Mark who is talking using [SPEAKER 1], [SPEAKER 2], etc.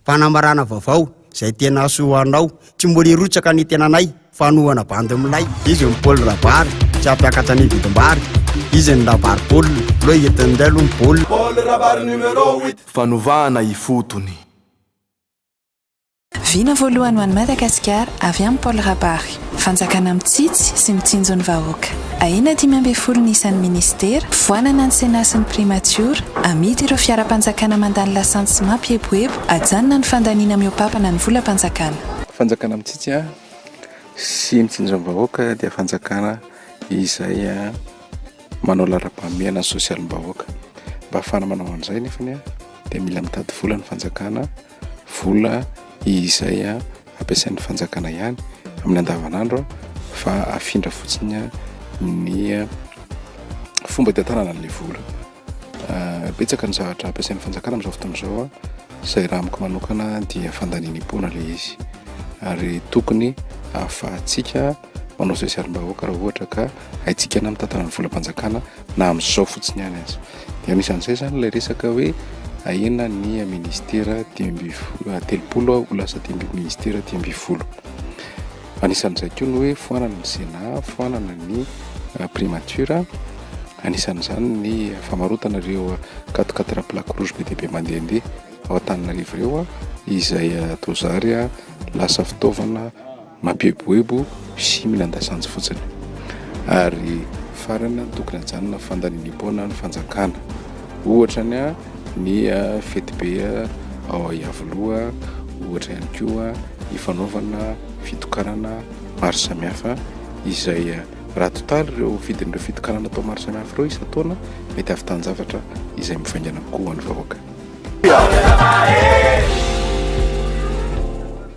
[SPEAKER 1] Fanambarana vaovao izay tena soa anao Tsy mbola hirotsaka ny tenanay Fanohana bandy milay Izy ny Paul Rabary Tsy hampiakatra ny vidim-bary Izy ny Rabary Paul Lo entin'inday aloha ny Paul Paul Rabary numéro
[SPEAKER 2] huit Fanovana ifotony.
[SPEAKER 3] Vina voalohany ho an'i Madagasikara avy amin'i Paul Rabary. Fanjakana mitsitsy sy mitsinjo ny vahoaka. Ahena dimy ambin'ny folo ny isan'ny minisitera, foanana ny Sénat sy ny Primatiora, amidy ireo fiaram-panjakana mandany lasantsy sy mampieboebo, ajanona ny fandaniana mihoapapana ny volam-panjakana. Fanjakana mitsitsy
[SPEAKER 4] sy mitsinjo ny vahoaka dia fanjakana izay manao laharam-pahamehana ny sosialim-bahoaka. Mba ahafahana manao an'izay anefa dia mila mitady vola ny fanjakana. vola izay ampiasain'ny fanjakana ihany amin'ny andavanandro fa afindra fotsiny ny fomba hitantanana an'ilay vola. Betsaka ny zavatra ampiasain'ny fanjakana amin'izao fotoana izao izay raha amiko manokana dia fandaniam-poana ilay izy ary tokony ahafahantsika manao sosialim-bahoaka raha ohatra ka haintsika na mitantana ny volam-panjakana na amin'izao fotsiny ihany aza. Dia anisan'izay izany ilay resaka hoe ahena ny ministera dimy ambin'ny folo, ah, telopolo ah, ho lasa dimy ambin'ny ministera dimy ambin'ny folo. Anisan'izay koa ny hoe foanana ny Sénat, foanana ny ah, primature, anisan'izany ny famarotana ireo ah, quatre quatre plaque rouge be dia be mandehandeha ao Antananarivo ireo ah, izay ah, toa zary ah, lasa fitaovana Mampieboebo sy minan-dasanjy fotsiny. Ary farany, tokony hajanona ny fandaniam-poana ny fanjakana. Ohatra ny ny fetibe ao Iavoloha, ohatra ihany koa ny fanaovana fitokanana maro samihafa izay raha totaly ireo vidin'ireo fitokanana atao maro samihafa ireo isan-taona, mety hahavitan-javatra izay mivaingana kokoa ho an'ny vahoaka.